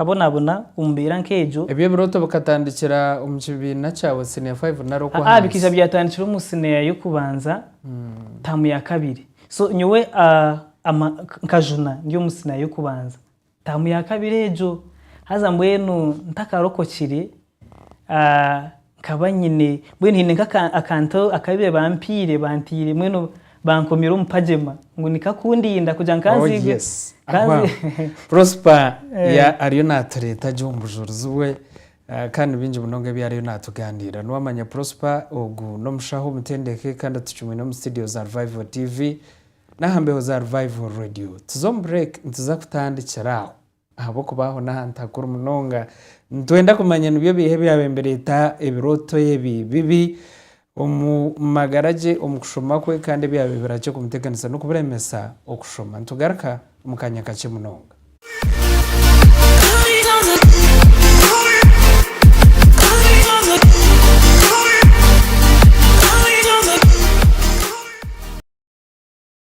Nkabonabona omu mbeera nk'egyo. Ebyo ebirooto bikatandikira omu kibiina kyawe, siniya faivu nari Ha, bikaija okw'ahansi? byatandikira omu siniya y'okubanza, taamu ya kabiri. So, nyowe a, ama, nk, nkajuna ndi omu siniya y'okubanza, taamu ya kabiri egyo. Haza mbwenu ntakarokokire, Nkaba nyine, mbwenu haine nk'akantu akabaire bampaire, bantaire, mbwenu bankomire omu pajema ngu nikwo akundinda kugira ngu nkaziigwe. Prosper ariyo naatureeta gye omu bujurizi bwe kandi ni bingi munonga ebi ariyo naatuganirira. Niwamanya Prosper ogu n'omushaho omutendeke kandi tucumwine omu situdiyo za Revival TV n'aha mbeho za Revival Radio. Tuza omu bureeki nituza kutandikira aho. Ahabw'okuba aho n'ahantu hakuru munonga. Nitwenda kumanya nibyo biiha ebyabire nibireeta ebirooto ebi bibi omu magara gye omu kushoma kwe, kandi ebyabire birakye kumuteganisa n'okuburemesa okushoma. Nitugaruka omu kaanya kakye munonga.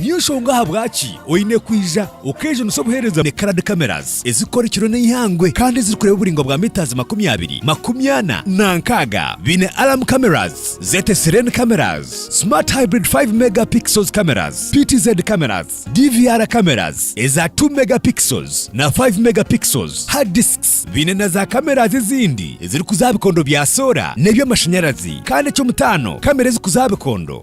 Niyo nshonga ahabwaki oine kwija okejunisa obuheereza na Carad Cameras ezirikukora ekiro n'eihangwe kandi ezirikureeba oburaingwa bwa metres makumi abiri, makumi ana na nkaaga. Baine Alarm Cameras, ZTE Serene Cameras, Smart Hybrid Five Mega Pixels Cameras, PTZ Cameras, DVR Cameras eza Two Mega Pixels na Five Mega Pixels, Hard Discs. Baine na za Cameras ezindi ezirikuza aha bikondo bya soora n'eby'amashanyarazi kandi eky'omutaano, kamera ezikuza aha bikondo.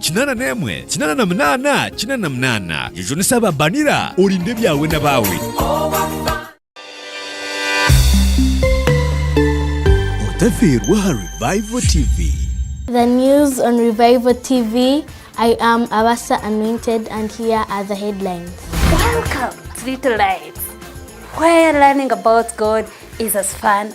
Kinaana n'emwe, kinaana na munaana, kinaana na munaana. Jujunisa aba banira, orinde ebyawe n'abaawe. Otafiirwe aha Revival TV. The news on Revival TV, I am Abasa Anointed and here are the headlines. Welcome to Little Lights, where learning about God is as fun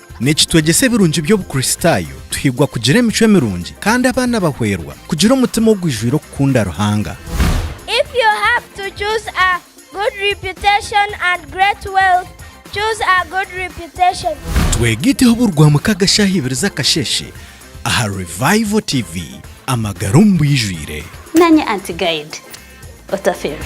Nikitwegyesa ebirungi by'Obukristaayo tuhigwa kugira emicwe mirungi kandi abaana bahwerwa kugira omutima ogwijwire okukunda Ruhanga. If you have to choose a good reputation and great wealth, choose a good reputation. Twega Iteho buri Rwamukaga shaaha ibiri z'akasheeshe aha Revival TV, amagara omu bwijwire. Nanye Auntie Guide Otaferwa.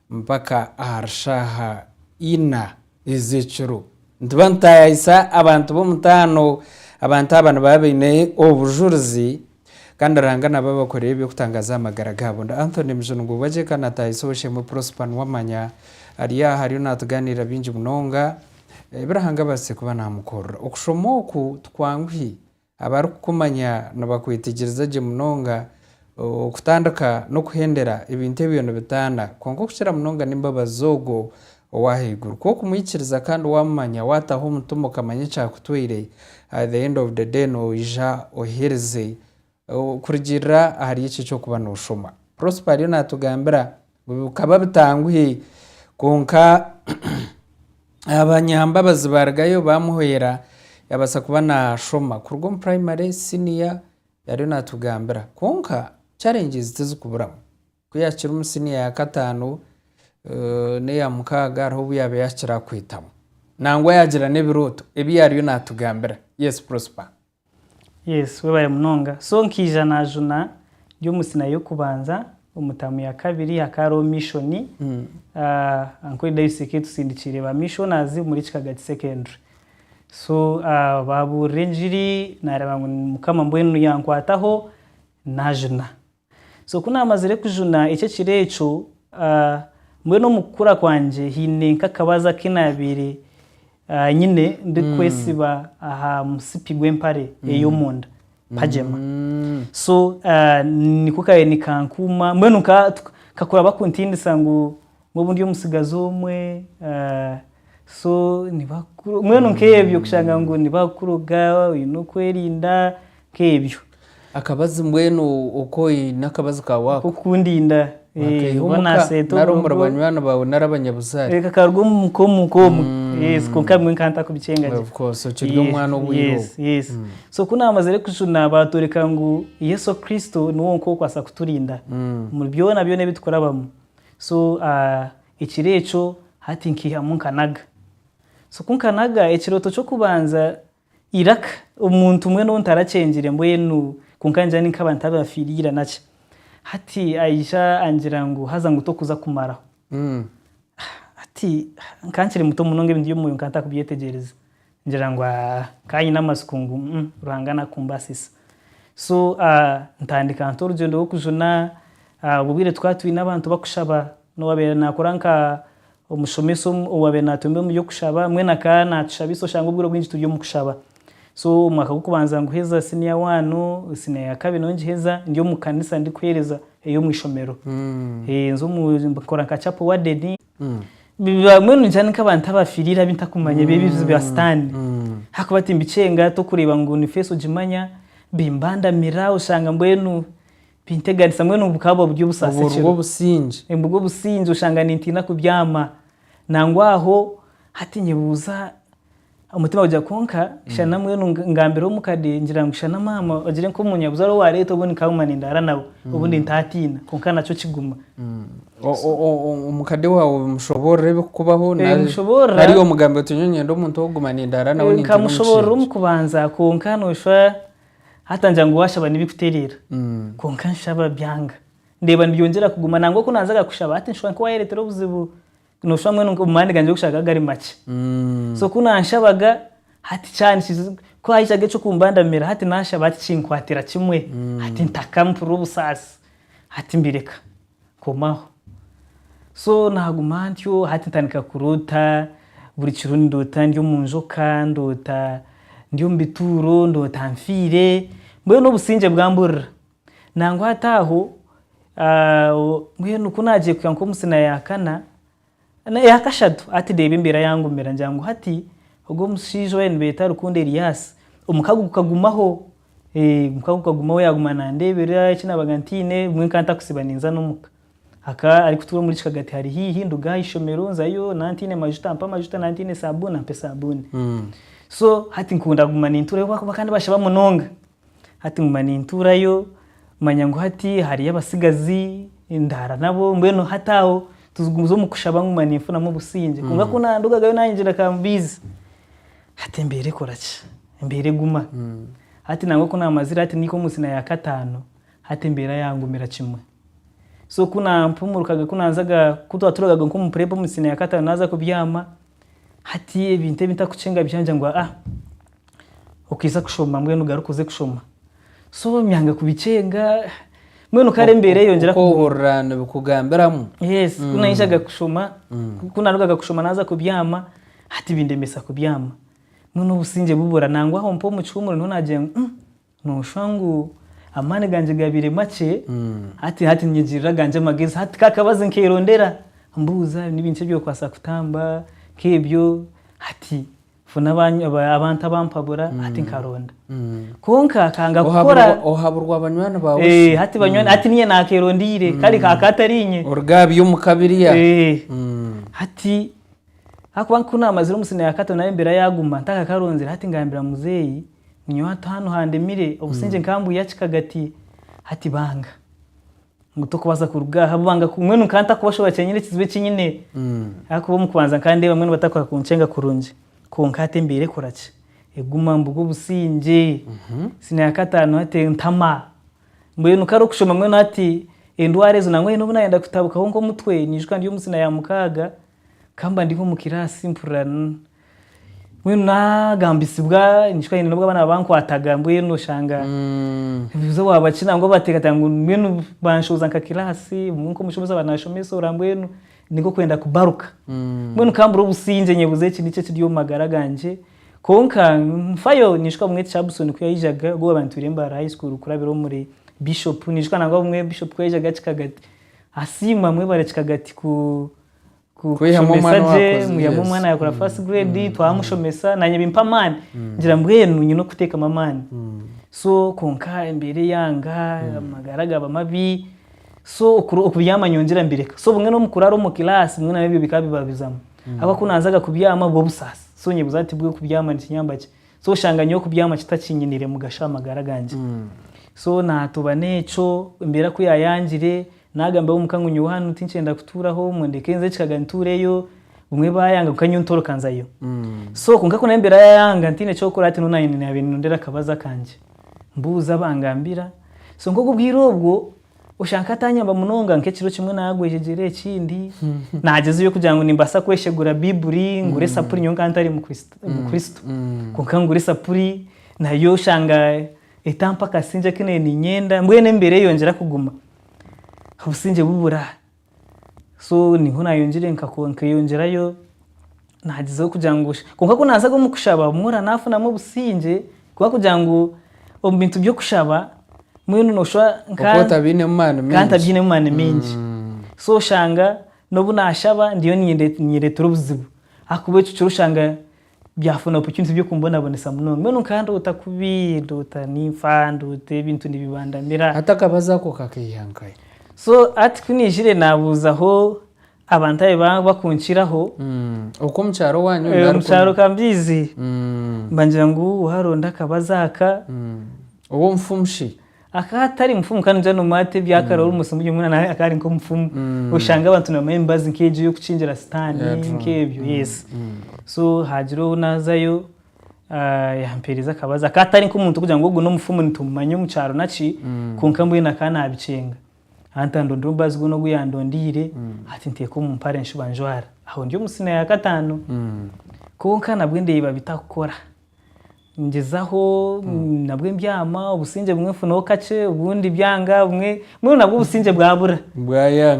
Mpaka ahari shaaha ina ez'ekiro. Nituba nitutaayayisa abantu b'omutaano. Abantu aba nibaba baine obujurizi kandi Ruhanga naba abakorera eby'okutangaaza aha magara gaabo. Ndi Anthony Mujungu Bwegyeka naataayisa Owoshemwe Prosper Nuwamanya. Ari aha ariyo naatugaaniirira bingi munonga ebi Ruhanga abaasize kuba naamukorera. Okushoma oku tikwanguhi. Abarikukumanya nibakwetigiriza gye munonga, okutandika n'okuhendera ebintu ebyo nibitaana. Kwonka okukira munonga n'embabazi z'Ogwo ow'ahaiguru. Ku okumwikiriza kandi waamumanya, waataho omutima okamanya eki akutwire, at the end of the day noija ohikiirize. Kurugiirira ahari ekyo eki okuba nooshoma. Prosper ariyo naatugambira Bikaba bitanguhi kwonka abanyambabazi barugayo bamuhwera yabaasa kuba nashoma kuruga omu primary, senior yariyo natugambira kwonka challenges tizikuburamu ku yakiri omu senior ya kataano neya mukaaga hariho obu yaba yakira kwetamu nangwa yagira n'ebirooto ebi yariyo natugambira yes Prosper. Yes webare munonga so nkaija najuna ndi omu sina yokubanza omu tamu ya kabiri hakaba hariho mission ahh uncle Darius ekaba etusindikiire ba missionaries omuri kikagati secondary so ahh baburira enjiri nareeba ngu mukama mbwenu yankwataho najuna. So ku naamazire kujuna eki ekiro ekyo, mbwenu omu kukura kwangye haine nk'akabazo aku naabaire nyine ndikwetsiba aha musipi gw'empare ey'omunda, pajema. So nikwo kaabaire nikankuuma, mbwenu nkakuraba kuntindisa ngu Obu ndi omutsigazi omwe, so nibakuroga, mbwenu nk'ebyo kushanga ngu nibakuroga, oine okwerinda, nk'ebyo. Akabazi mbwenu oku oine akabazi kaawe ako. Nk'okundinda, wakaiha omu ka nari omu banywani baawe nari abanyabuzaare. Kakaruga omu muka omu ka omu, yes, kwonka bimwe nkaba ntarikubicenga gye. Of course, okiri omwana obwire obwo. Yes, yes. So ku naamazire kujuna baatworeka ngu Yesu Kristo niwe wonka orikubaasa kuturinda omuri byona byona ebi turikurabamu. So ekiro ekyo hati nkihamu nkanaga. So ku nkanaga ekirooto ky'okubanza iraka omuntu mbwenu ou ntarakyengire mbwenu kwonka ningira ninkaba ntabafiire ira naki. Hati aija angira ngu haza ngu tokuza kumaraho. Hati nkankiri muto munonga ebintu by'omwoyo nkaba ntarikubyetegyereza. Ngira ngu nkaba nyine amatsiko ngu Ruhanga naakumbaasisa. So ntandika nta orugyendo rw'okujuna? Obwo bwire tukaba twine abantu barikushaba. N'owaabaire naakora nk'omushomesa owaabaire naatuyomba omu by'okushaba, mbwenu akaba naatushabisa oshange obwire obwingi turi omu kushaba. So omwaka gw'okubanza nguheza siniya waanu, siniya ya kabiri nayo ngiheza ndi omu kanisa ndikuheereza ey'omu ishomero. Nkora nka chapo waadeni. mbwenu ningira ni nk'abantu abafiriire abi ntakumanya ebi ebizibu bya sitaani ahakuba timbikyenga tokureeba ngu ni feesi ogimanya bimbandamira oshanga mbwenu binteganisa mbwenu bukaba buba buri obusaasi obwo ekiro rw'obusingye nibwo obusingye oshanga nintiina kubyama nangwa aho hati nyebuuza Omutima gugira kwonka shana mbwenu ngambire omukade ngira ngu shana maama ogire nka omunyabuzaare owareeta obundi nkaguma nindaara nawe obundi ntaatiina kwonka nakyo kiguma. Omukade waawe omushoboorora ebikukubaho nari omugambira oti nyowe niinyenda omuntu ow'okuguma nindaara nawe nintiina omusheengi. Nkamushoboorora omu kubanza kwonka noshwa hata ngira ngu waashaba n'ebikutereera kwonka nshaba byanga ndeeba nibyongyera kuguma nangwa ku naazaga kushaba hati nshusha nk'owaayereetera obuzibu. Noshusha mbwenu nka omumani gangye gokushaba gari makye. So ku nanshabaga hati kyani kizi ku haijaga ekyokumbandamira hati nashaba hati kinkwatira kimwe hati ntaka mpurira obusaasi hati mbireka nkomaho. So naguma ntyo hati ntandika kuroota buri kiro nindoota ndi omu njoka, ndoota ndi omu bituuro, ndoota nfiire, mbwenu obusingye bwamburira. Nangwa hati aho mbwenu ku naagiye kuhika nk'omu sina ya kana eya kashatu hati reeba embeera yangumira ngira ngu hati ogwo omushaija owabaire nibeeta Rukundo Elias omukago gukagumaho, omukago gukagumaho yaaguma nandeeberera eki naabaga ntaine bumwe nkaba ntarikusiiba ninza n'omuka. Akaba arikutuura omuri Kishagati hari haihi nduga aha ishomero nzayo naba ntaine majuta ampe amajuta naba ntaine saabuuni ampe saabuuni. So hati nkunda kuguma nintuurayo ahabw'okuba bakaba nibashaba munonga. Hati nguma nintuurayo, manya ngu hati hariyo abatsigazi, ndaara nabo, mbwenu hati aho tugumize omu kushaba nguma ninfunamu obusingye. Kwonka ku naandugagayo naayingira ka mbiizi, hati embeera ekora ki? Embeera eguma. Hati nangwa ku naamazire hati naihika omu siniya ya kataano, hati embeera yaangumira kimwe. So ku naampumurukaga ku naazaga, ku twaturugaga nk'omu purepu omu siniya ya kataano naaza kubyama, hati ebintu ebi ntarikucenga byangye ngu aa. Okaija kushoma mbwenu ogaruke oze kushoma. So nyanga kubikyenga mbwenu kare embeera eyongyera kuguma. Okoohurira nibikugambiramu. Yes, ku naijaga kushoma, ku naarugaga kushoma naaza kubyama, hati bindemesa kubyama. Mbwenu obusingye bubura nangwa aho mpaho omu kihumuro niho naagira ngu. Nooshwa ngu amaani gangye gabaire makye, hati hati ninyegyeerera agangye amagezi. Hati ka akabazi nkeerondera, mbuuza ni binki ebi orikubaasa kutamba nk'ebyo. Hati funa abantu abampabura, hati nkaronda. Kwonka nkanga kukora. Ohaburwa banywani baawe shi? Hati banywani, hati niinye naakeerondeire, kare ka katariinye. Oruga aha by'omu ka biriya. Hati ahakuba ku naamazire omu siniya ya kato naayo embeera yaaguma ntakakaronzire, hati ngambira muzeeyi. Nyowe hati hanu handemire, obusingye nkaba mbwihaki kagati? Hati banga ngu tokubaasa kuruga aha, banga ku- mbwenu nkaba ntakubashobora kyenyini ekizibu eki nyine. Ahakuba omu kubanza nkaba ndeeba mbwenu batakubaasa kunkyenga kurungi. Kwonka hati embeera ekora ki? Eguma mbuga obusingye. Siniya ya kataano hati entama. Mbwenu kare okushoma mbwenu hati endwara ezo nangwa haine obu nayenda kutabukaho nk'omutwe, niijuka ndi omu siniya ya mukaaga, nkaba mba ndi nk'omu kiraasi mpurira Mbwenu nagambisibwa nishwa nyine n'obu abaana bankwataga mbwenu oshanga mm. nibuza waaba ki nangwa bateekateeka ngu mbwenu banshooza nka kiraasi obumwe nk'omushomesa aba naashomesoora mbwenu ni nk'okwenda kubaruka mm. mbwenu nkambura obusingye nyebuuza eki niki ekiri omu magara gangye kwonka nfayo ninshuka obumwe Cabson ku yaijaga ogwo waaba nitwire Mbaara High School kurabira omuri Bishop ninshuka nangwa obumwe Bishop ku yaijaga Kikagati asiima mwebare Kikagati ku kushomesa gye mwihamu omwana yakora first grade twamushomesa nanye bimpa amaani ngira mbwenu nyine okutekamu amaani so kwonka embeera eyanga amagara gaba mabi so okubyama nyowe ngira mbireka so obumwe nomukurara omu class bumwe nabyo bikaba bibabizamu habwokuba kunanzaga kubyama bwobusaasi so nyebuza nti bwenu kubyama nikinyamba ki so oshanga nyowe kubyama kitakinyinire mugasho ahamagara gangye so natobana ekyo embeera kuyayangire Naagambaho omuka ngu nyowe hanu tinkyenda kutuuraho, ngu ndeke nze ekikaga ntuureyo, bumwe baayanga kwonka nyowe ntoroka nzayo. So kwonka ku naabiire yayanga ntaine eky'okukora hati nyowe naanye naabiire niinondera akabazi akangye mbuuze abangambira. So nk'ogu obwire obwo oshange nk'ataanyamba munonga, nk'ekiro kimwe naagwa ejegyere ekindi naagyezayo kugira ngu nimbaasa kweshegura Baiburi ngure esapuri nyowe nkaba ntari Mukristo. Kwonka ngura esapuri nayo oshanga etampa kasingye aku naabiire niinyenda, mbwenu emibeera eyongyera kuguma. obusingye bubura so niho nayongyire nkeyongyerayo nagyezaho kugira ngu kwonka ku nazaga omu kushaba obumwe ora nafunamu obusingye kuba kugira ngu omu bintu by'okushaba mbwenu noshwa nkatabyinemu maani mingi mm. so oshanga n'obu nashaba ndiyo ninyereetera obuzibu ahakuba ekyo kiro oshanga Byafuna opportunity by'okumbonabonesa munonga. Mbwenu nkaba ndoota kubi, ndoota ninfa, ndoota ebintu nibibandamira. Hati akabazo ako kakaiha nkahi? So hati ku naijire nabuuzaho abantu abu ba- bakunkiraho. Okw'omu kyaro wanyu Eh, nari omu kyaro ka mbiizi. Mbangira ngu waaronda akabazo aka. Ow'omufumu shi? Akaba atari mufumu kandi John Marty ebi akaba ari omusimu byo mbwenu nawe akaba ari nk'omufumu oshanga abantu nibamanya emibazi nk'egyo y'okukingira sitaani nk'ebyo yes so haagira ou naazayo ah, yampeereza akabazi akaba atari nk'omuntu okugira ngu ogu n'omufumu nitumumanya omu kyaro naki kwonka mbwenu akaba naabikyenga hati andondera omubazi gwona ogu yandondeire hati nteeka omu mpare nshuba njwara aho ndi omu siniya ya kataano kwonka nabwo ndeeba bitakukora. ngyezaho hmm. nabwe mbyama obusingye bumwe nfunaho kakye obundi byanga bumwe mbwenu nabwo obusingye bwabura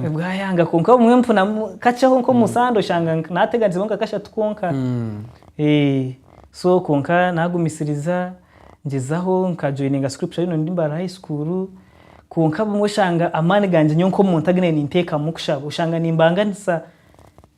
bwayanga kwonka bumwe nfunamu kakyeho nk'omusande hmm. oshanga nateganizeho nka kashatu kwonka hmm. eh, so kwonka nagumisiriza ngyezaho nkajoyininga scripture yino ndi mbara high school kwonka bumwe oshanga amaani gangye nyowe nk'omuntu aginaine ninteekamu kushaba oshanga nimbanganisa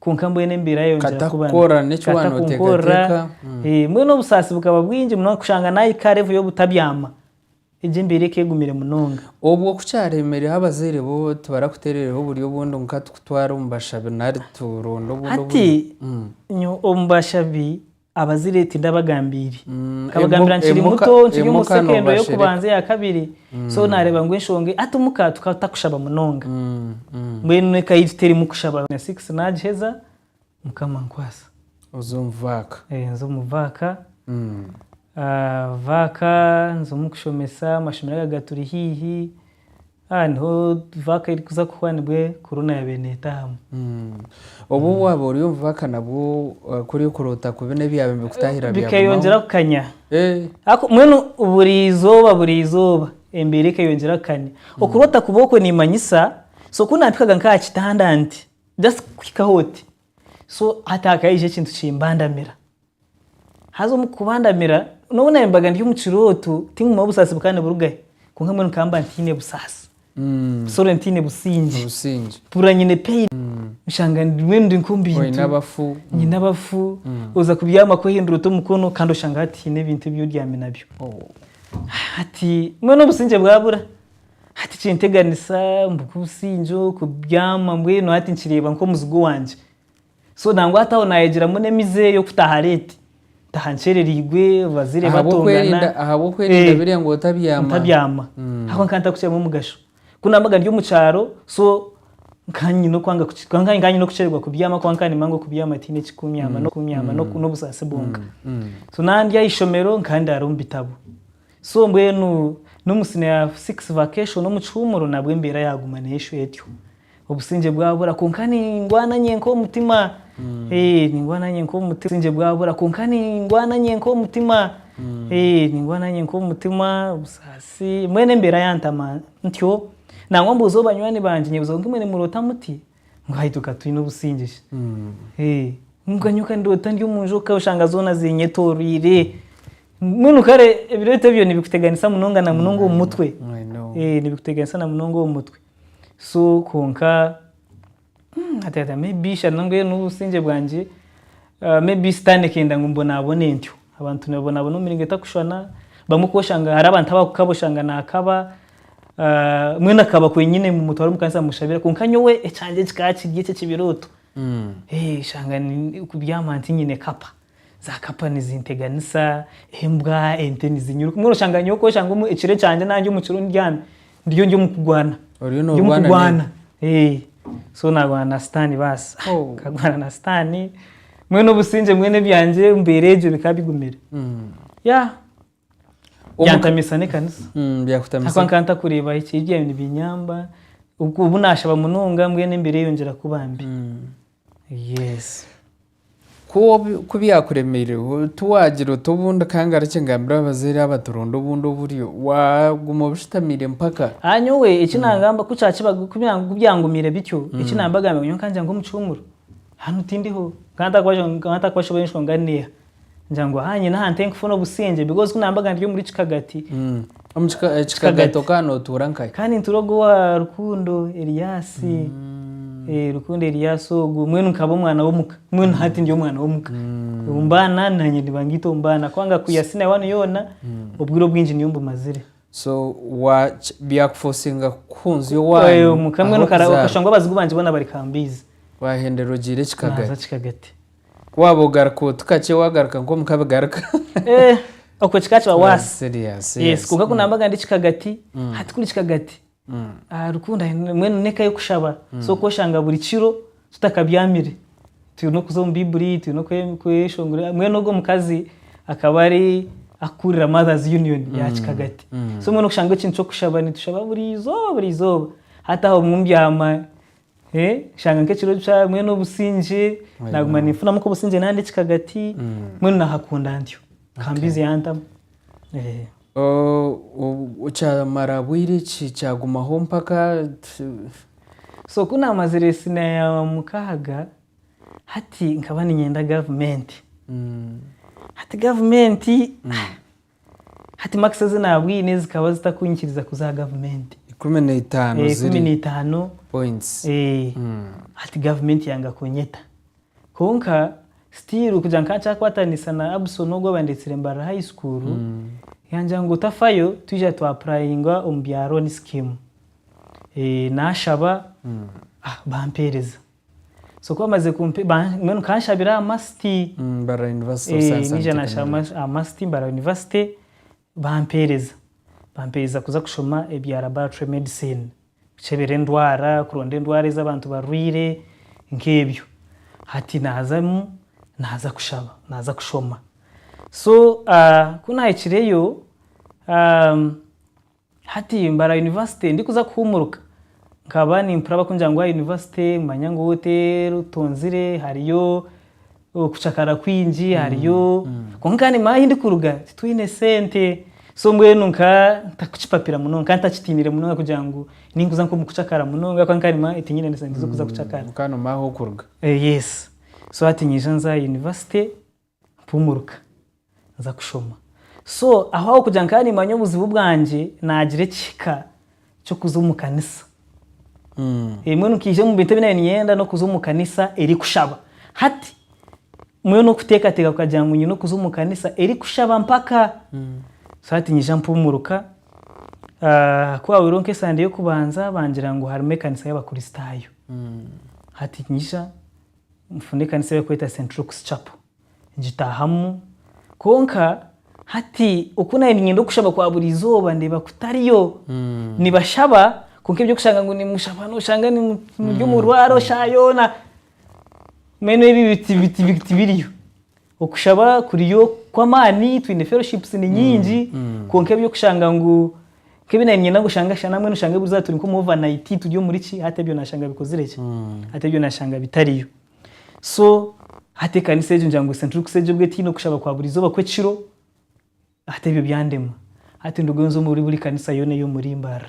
kwonka mbwenu embeera yayongyera Kata kuba kukora mbi. n'eki Kata waanoteekateeka. kunkorera, Mm. eh, mbwenu obusaasi bukaba bwingi munonga kushanga naahika aha revo y'obutabyama egyo embeera ekeegumire munonga Obwo ku kyareemereho abazaire bo tibarakuteerereho oburyo obundi nka tukutware omu bashabi nari turonde obundi hati oburyo? Mm. nyowe omu bashabi Abazire tindabagambiire. Nkabagambira nkiri muto, nkiri omu secondary y'okubanza eya kabiri. So naareeba ngu enshonga ei, hati omuka tukaba tutakushaba munonga. Mbwenu eka yaitu terimu kushaba. Na six naagiheza, Mukama ankwasa. Oza omu vaaka. Nza omu vaaka. Vaaka nza omu kushomesa, amashomero aga gaturi haihi. Aha niho vaaka erikuza kuhwa nibwo korona yaabaire neetaahamu. Obwo hmm. waaba ori omuvaka nabwo eh, kuri okuroota kubi n'ebyaaba nibikutaahira bikeyongyera kukanya eh. mbwenu buri izooba buri izooba embeera ekeyongyera kukanya hmm. okuroota kubi okwo niimanyisa so ku nampikaga nk'aha kitanda nti just kuhikaho oti so hati hakaija ekintu kimbandamira Haza omu kubandamira, n'obu naayembaga ndi omu kirooto, tinguma busaasi bukaba niburugahe, kwonka mbwenu nkaba mba ntiine busaasi, sorry ntiine busingye, mpurira nyine pain, nshanga mbwenu ndi nk'omu bintu, nyine abafu, oza kubyama kwehindura ota omukono kandi oshanga hati haine ebintu ebi oryami nabyo. Hati mbwenu obusingye bwabura, hati kinteganisa ngu nk'obusingye oku, kubyama mbwenu hati nkireeba nk'omuzigu wangye. So nangwa hati aho nayegiramu n'emize eyo kutaha late. Ntaha ncerereirwe, bazaire batongana. Ahabw'okwerinda biriya ngu otabyama. Ntabyama. Ahabw'okuba nkaba ntarikukireeba omugasho. Ku nabaga ndi omu kyaro, so nkaba nyine okwanga nkaba nyine okukyererwa kubyama ahabw'okuba nkaba nimanya ngu okubyama tihaine ekikunyaama n'okunyama n'obusaasi bwonka. So nandya aha ishomero, nkaba ndaara omu bitabo. So mbwenu n'omu siniya ya six vacation omu kihuumuro nabwo embeera yaaguma neeshwa etyo. Obusingye bwabura kwonka ningwana nyenka omutima. Eeh, ningwana nyenka omutima. Obusingye bwabura kwonka ningwana nyenka omutima. Eeh, ningwana nyenka omutima, obusaasi, mbwenu embeera yantama ntyo. Nangwa mbuuza omu banywani bangye, nyebuuza ngu imwe nimuroota muti? Mbwai tukaba twine obusingye kwonka nyowe ka ndoota ndi omu njoka oshanga zoona ziinyetooroire. Mbwenu kare ebirooto ebyo nibikuteganisa munonga na munonga omu mutwe. Nibikuteganisa na munonga omu mutwe. So kwonka, hati hati may be ishana mbwenu n'obusingye bwangye. Maybe sitaane ekenda ngu mbonabone ntyo. Abantu nibabonabona omu miringo etakushwana. Bamwe ku oshanga hariho abantu abakukaba oshanga nakaba, mbwenu akaba kwenyine mumutware omu kanisa mushabira kwonka nyowe ekyangye kikaba kiri ekyo ekibirooto. Oshanga kubyama ntinyine kapa, za kapa nizinteganisa, embwa, ente nizinyiruka. Mbwenu oshanga nyowe ku oshanga ekiro ekyangye nangye omu kiro ndyami, Ndiyo ndi omu kugwana. Oriyo Ndi omu norwana nini? kugwana. Eh, So nagwana na sitaani baasa. Oh. Nkagwana na sitaani, mbwenu obusingye mbwenu ebyangye omu mbeera egyo bikaba bigumire. Mm. Yeah. Omu- Byantamisa n'ekanisa. Mm, Ahakuba byakutamisa. nkaba ntakureeba ekibi byayo nibinyamba, obu obu naashaba munonga mbwenu embeera eyongyera kuba mbi. Mm. Yes. Ku byakuremeire, tiwaagira oti obu ndikangarukye ngambire abazaire aba turonde obundi oburyo. Waaguma obushutamiire mpaka. Aha nyowe, eki naagamba, ku kyakibaga, ku byangumiire bityo, eki naabagambira ngu nyowe nkagira ngu omu kihuumuro hanu tindiho. Nkaba ntakwashobora enshonga neeha. ngira ngu aha nyine aha nte kufuna obusingye because ku nambaga ndiri omuri kikagati mm. omu eh, kikagati okaba nootuura nkahi kandi nituura ogwo wa rukundo eriyasi mm. eh, rukundo eriyasi ogwo mwenu nkaba omwana w'omuka mwenu mm. hati ndi omwana w'omuka omu baana nanye nibangaita omu baana kubanga kuyasi nawe wanu yoona obwire obwingi niyo mbumazire so byakufosinga kuhunzya owanyu omuka mwenu okashanga abazigu bangye boona bari kambiizi wahenderwa ogiire ekikagati Ku waaba ogaruka otu kakye waagaruka nk'omu kabigaruka. Eh, okwe kikaba kiba waasi. Serious, Yes, yes. kwonka ku Mm, naambaga ndi kikagati, mm, hati kuri kikagati. mm, Ah, Rukundo ahi mbwenu n'eka y'okushaba. So mm, okoshanga buri kiro tutakabyamire. Twine okuza omu Baibuli, twine kwe kweshongora. Mbwenu ogwo mukazi akaba ari akukurira Mothers Union ya mm, kikagati. So mm. mbwenu oshanga ekintu ky'okushaba nitushaba buri izooba buri izooba. Hati aho obumwe mbyama Nshanga nk'ekiro kya mbwenu obusingye naguma ninfunamu nk'obusingye nandi ekikagati mbwenu nahakunda ntyo ka mbiizi yantamu. Kyamara bwire ki kyagumaho mpaka? So ku naamazire siniya ya mukaaga hati nkaba niinyenda gavumenti, hati gavumenti Hati makisi ezi naabwine zikaba zitakunyikiriza kuza aha gavumenti. Ikumi na itaano ziri. Ikumi na itaano. Points. Hati gavumenti yanga kunyeta. Kwonka still kugira ngu nkakyakwatanisa na Abson ogu abandetsire Mbarara High School, yangira ngu tafayo twija twa apurayinga omu bya loan scheme. Naashaba, bampeereza. So ku bamaze kumpa ba- mbwenu kanshabira aha masiti Mm, Mbarara University of Eh, Science and naija nashaba Technology. ama- amasiti mbara university bampeereza bampeereza kuza kushoma ebya laboratory medicine kukyebera endwara kuronda endwara ezi abantu barwaire nk'ebyo hati nazamu naza kushaba naza kushoma so ah, ku nahikireyo Hati mbara yunivasite ndikuza kuhuumuruka, nkaba nimpurira bakungira ngu aha yunivasite manya ngu te rutonzire, hariyo okucakara kwingi, hariyo kwonka kandi nimanya ahi ndikuruga titwine sente. So mbwenu nka ntakukipapira munonga ka ntakitiinire munonga kugira ngu ninkuza nk'omu kucakara munonga ahabw'okuba nka nimanya ntinyine na sente z'okuza kucakara. Ka nomanya ahu okuruga. Yes. So hati nyija nza aha yunivasite, Mpumuruka nza kushoma so aho aho kugira nkaba nimanya obuzibu bwangye nagira ekihika kyokuza omu kanisa ebimwe nkaija omu bintu ebinabaire ninyenda nokuza omu kanisa erikushaba hati mbwenu nokutekateka kukagira ngu nyine okuza omu kanisa erikushaba mpaka so hati nyija mpumuruka kuhabireho nka esande yokubanza bangira ngu harimu ekanisa yabakurisitayo hati nyija Nfuna ekanisa ei barikweta Saint Luke's Chapel, ngitaahamu. Kwonka hati oku nabaire niinyenda okushaba kwa buri izooba ndeeba ku tariyo. Nibashaba kwonka eby'okushanga ngu nimushaba nooshanga muri omu rwaaro shaaha yoona, mbwenu ebyo tibiriyo. Okushaba kuriyo kw'amaani, twine fellowships ni nyingi, kwonka eby'okushanga ngu nk'ebi naanye niinyenda ngu oshange asha namwe noshanga eburiizooba turi nk'omu overnight turi omuri ki, hati ebyo naashanga bikozire ki? Hati ebyo naashanga bitariyo. So hati ekanisa egyo ngira ngu since turi kuseegyebwa etaine okushaba kwa buri izooba kw'ekiro. Hati ebyo byandema. Hati ndugayo nze omuri buri kanisa yoona ey'omuri mbarra.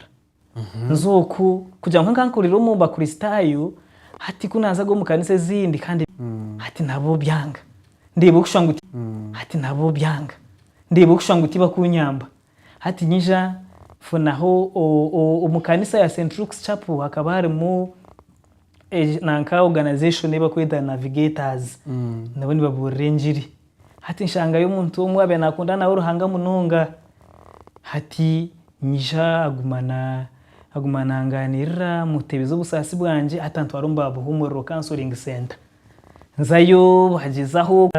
Nze oku, kugira ngu nka nkurire omu Bakristaayo, hati ku naazaga omu kanisa ezindi kandi hati nabo byanga. Ndeeba okushusha ngu hati nabo byanga. Ndeeba okushusha ngu tibakunyamba. Hati nyija nfunaho omu kanisa ya Saint Luke's Chapel hakaba harimu nanka organization ei bakweta Navigators. Nabo nibabuurira engiri. Hati nshangayo omuntu omwe owaabaire naakunda nawe Ruhanga munonga. Hati nyija aguma na aguma naangaanirira, mmuteebeza obusaasi bwangye, hati antwara omu ba Buhuumuriro Counselling Centre. Nzayo bagyezaho,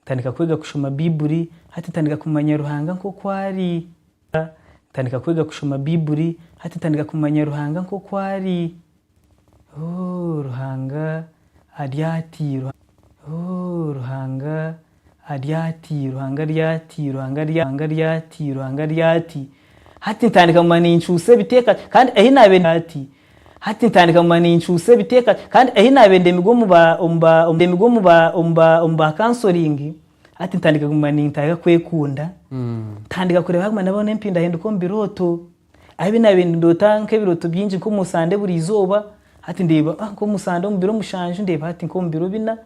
ntandika kwega kushoma Baibuli, hati ntandika kumanya Ruhanga nk'oku ari. Ntandika kwega kushoma Baibuli, hati ntandika kumanya Ruhanga nk'oku ari. Ooh Ruhanga ari ati Ooh Ruhanga ari ati Ruhanga ari ati Ruhanga ari Ruhanga ari ati Ruhanga ari ati Hati ntandika nguma nincuusa ebiteeka kandi ahi naabe ati Hati ntandika nguma nincuusa ebiteeka kandi ahi naabe ndemigwe omu ba omu ba ndemigwe omu ba omu ba omu ba kansoringi hati ntandika kuguma nintaaga kwekunda ntandika kureeba haguma nabona empindahinduka omu birooto Ahabi naabaire nindoota nk'ebirooto bingi nk'omu sande buri izooba, hati ndeeba ah, nk'omu sande omu biro mushanju, ndeeba hati nk'omu biro bina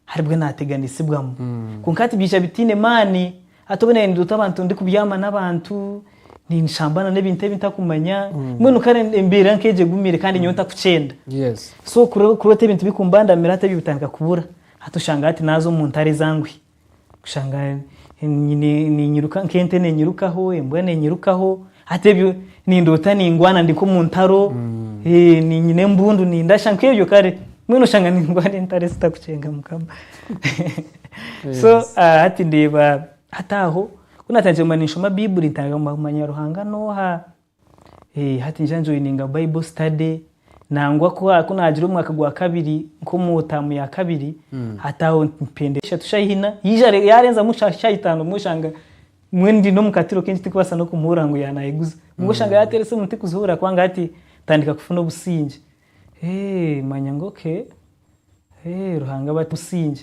haribwe naateganisibwamu. Hmm. Kwonka hati biija bitaine maani. Hati obwe naabaire nindoota abantu ndikubyama n'abantu, ninshamba na n'ebintu ebi ntakumanya, hmm. mbwenu kare embeera nk'egyo egumire kandi nyowe ntakukyenda. Yes. So kuroota ebintu bikumbandamira hati ebyo bitandika kubura. Hati oshanga hati naaza omu ntare zanguhi. kushanga ninyiruka nk'ente nenyirukaho embwa nenyirukaho hati ebyo nindoota ningwana ndi nk'omu ntaro mm. eh, ninyina embundu nindasha nk'ebyo kare mbwenu oshanga ningwana entaro ezitakucenga mukama so ah, hati ndeeba hati aho kunatandikire mba ninshoma baibuli ntagamanya ruhanga noha Hati ngira njoininga Bible study nangwa ku naagira omwaka gwa kabiri nk'omu taamu ya kabiri hmm. hati aho mpenda eshatu shaaha ina yaarenzamu shaaha itaano obumwe oshanga mbwenu ndi n'omu katiro kengi tikubaasa n'okumuhurira ngu yaanayeguza obumwe oshanga hmm. yaateera esimu tikuzihuurira kubanga hati ntandika kufuna obusingye manya ngu okay ruhanga bati busingye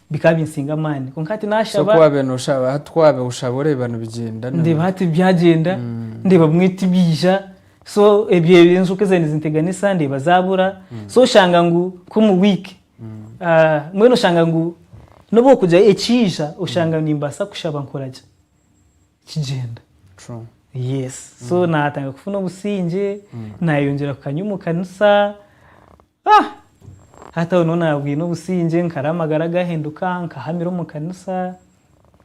Bikaba binsinga amaani. Kwonka hati naashaba. So ku waabaire nooshaba, hati ku waabaire oshaba oreeba nibigyenda? Ndeeba hati byagyenda, ndeeba bimwe tibiija. So ebyo enjoka ezaabaire nizinteganisa ndeeba zaabura. So oshanga ngu nk'omu wiiki, mbwenu oshanga ngu n'obu orikugira ekiija oshanga nimbaasa kushaba nkora gye? Kigyenda. Yes. So naatandika kufuna obusingye, naayeyongyera kukanywa omu kanisa. Ah! Hati aho niho naabwine obusingye, nkara amagara gaahinduka, nkahamira omu kanisa,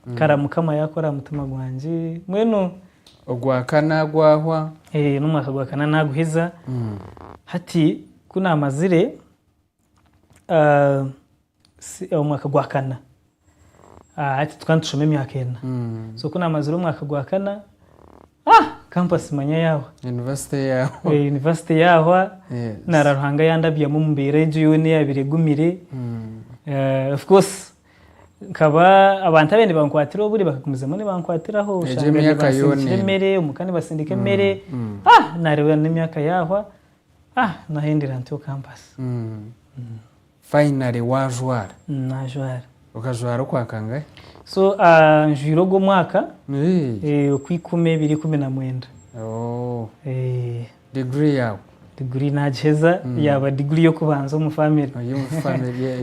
nkara Mukama yaakora aha mutima gwangye, mbwenu. Ogwakana gwahwa? Eeh n'omwaka gwa kana naaguhiza, hati ku naamazire, CE omwaka gwa kana, hati tukaba nitushoma emyaka ena, so kunamazire omwaka gwa kana, ah campus manya yahwa, university yahwa, nara Ruhanga yandabyamu omu mbeera egyo yoona eyabire egumire, of course nkaba abantu ababire nibankwatira oburi bakagumizamu nibankwatiraho, oshanga nibasindikira emere, omuka nibasindika emere, ah nareeba nemyaka yahwa, ah nahendera ntyo campus. Finally wajwara. Najwara. Okajwara okwa kangahe? So njwire ogu omwaka okwa ikumi ebiri ikumi na mwenda. Degree yaawe? Degree nagiheza yaaba degree y'okubanza omu family.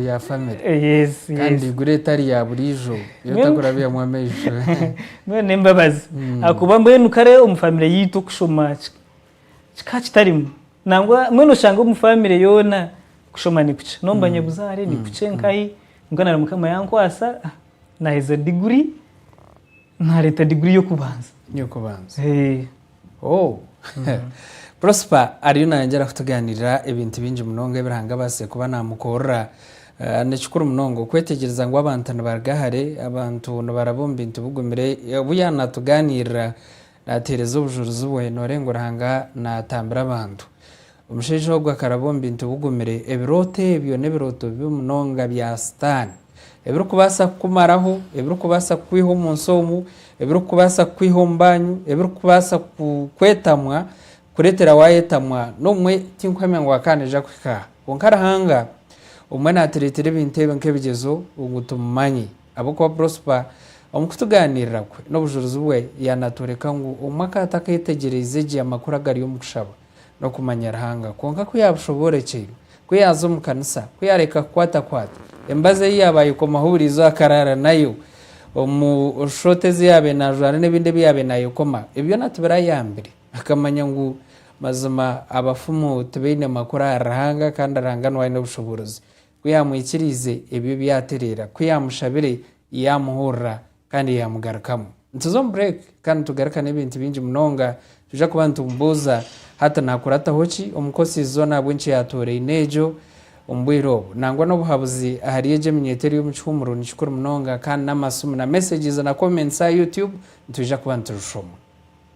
Eya family. Yes yes. Kandi degree etari ya buriijo ei otakurabyamu amaisho. Mbwenu n'embabazi ahakuba mbwenu kare omu family yaitu okushoma Kikaba kitarimu. Nangwa mbwenu oshange omu famire yoona kushoma nikukye. N'omu banyabuzaare nikukye nkahi. Kwonka nari Mukama yankwasa naaheza diguri, naareeta diguri y'okubanza. Y'okubanza. Prosper ariyo nayongyera kutugaaniirira ebintu bingi munonga ebi Ruhanga abaasize kuba naamukorera. Ni kikuru munonga okwetegyereza ngu abantu nibaruga hare, abantu nibaraba omu bintu bigumire obu yaaba naatugaaniirira. Naateereza obujurizi bwe, noorenga ngu Ruhanga naatambira abantu. Omushaija ogwo akaraba omu bintu bigumire. Ebirooto ebyo n'ebirooto bibi munonga bya Sitaane, ebirikubaasa kukumaraho, ebirikubaasa kukwiha omu nsi omu, ebirikubaasa kukwiha omu banyu, ebirikubaasa kukwetamwa, kukureetera waayetamwa n'omwe tinkuhemya ngu akaba naija kuhika aha. Kwonka Ruhanga obumwe naatureetera ebintu ebi nk'ebigyezo ngu tumumanye. Ahabw'okuba Prosper omu kutugaaniirira kwe n'obujurizi bwe yaanatworeka ngu obumwe akaata akeetegyereize gye amakuru agari omu kushaba n'okumanya Ruhanga. Kwonka ku yaabushoboorokyerwe, ku yaaza omu kanisa, ku yaareka kukwatakwata emibazi ei yaaba ayekomaho buri izooba akaraara nayo omu shooti ezi yaabaire naajwara n'ebindi ebi yaabaire naayekoma, ebi byona tibirayambire akamanya ngu mazima abafumu tibaine makuru ahari Ruhanga kandi Ruhanga niwe aine obushoboorozi. Ku yaamwikiriize, ebyo byatereera. Ku yaamushabire, yaamuhurira kandi yaamugarukamu. Nituza omu break kandi nitugaruka n'ebintu bingi munonga. Twija kuba nitumubuuza, Hati naakurataho ki omu nkosi zoona ahabw'enkya yaatooraine egyo omu bwire obu? Nangwa n'obuhabuzi ahari egyo eminyweto eri omu kihuumuro ni kikuru munonga. Kandi n'amasimu na messages na comments aha Youtube nitwija kuba niturushoma.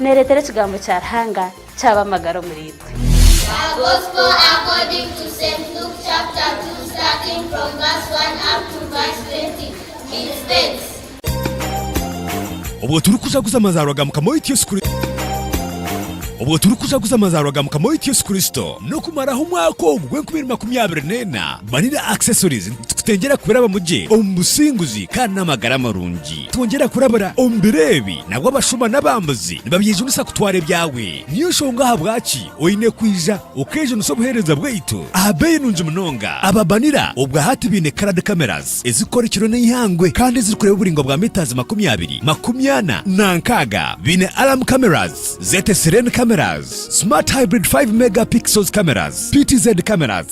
Neereetera ekigambo kya Ruhanga kyaba amagara omuri itwe. A Gospel According to Saint Luke chapter 2 starting from verse 1 up to verse 20. It states. Obwo turikujaguza amazaarwa ga Mukama waitu Yesu Kristo. Obwo turikujaguza amazaarwa ga Mukama waitu Yesu Kristo. N'okumaraho omwaka ogu gw'enkumi ibiri makumi abiri n'ena, Money na Accessories nitukutengyera kubirabamu gye omu businguzi kandi n'amagara marungi. Twongyera kurabira omu biro ebi, nabwo abashuma n'abambuzi nibabyejunisa kutwara ebyawe. Niyo nshonga ahabwaki oine kwija okeejunisa obuheereza bwaitu aha beeyi nungi munonga. Ababanira obwa hati baine colord cameras ezirikukora ekiro n'eihangwe kandi ezirikureeba oburaingwa bwa metres makumi abiri, makumi ana na nkaaga. Baine alarm cameras, ZSRN cameras, smart hybrid five megapixels cameras, PTZ cameras,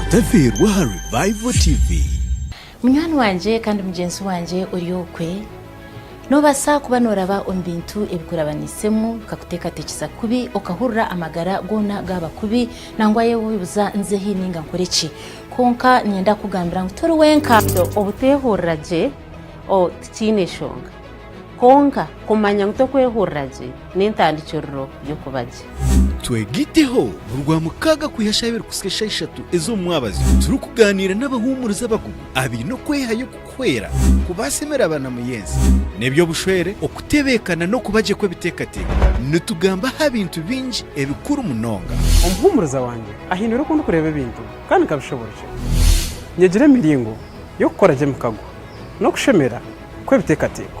Otafiirwe aha Revival TV. Munywani wangye kandi mugyenzi wangye ori okwe, noobaasa kuba nooraba omu bintu ebikurabaniisemu bikakuteekateekyesa kubi, okahurira amagara goona gaaba kubi, nangwa yeebuuza nze hi nainga nkore ki? Kwonka niinyenda kukugambira ngu tori wenka. Obutehurira gye, oh, tikiine nshonga. Kwonka, kumanya ngu tokwehurira gye n'entandikiriro y'okuba gye. Twegiteho, Mu Rwamukaaga kwiha shaaha ibiri kuhitsya shaaha ishatu ez'omu mwabazi, turikugaaniira n'abahuumurizi abakugu abaine okwehayo okukuhwera kubaasa emere abanamuyenzi, n'eby'obushwere, okutebeekana n'okuba gye kw'ebiteekateeko. Nitugamba aha bintu bingi ebikuru munonga. Omuhuumuriza wangye ahindura oku ndikureeba ebintu kandi nkabishoboorokya. Nyegire emiringo y'okukora gye emikago n'okushemera. kw'ebiteekateeko.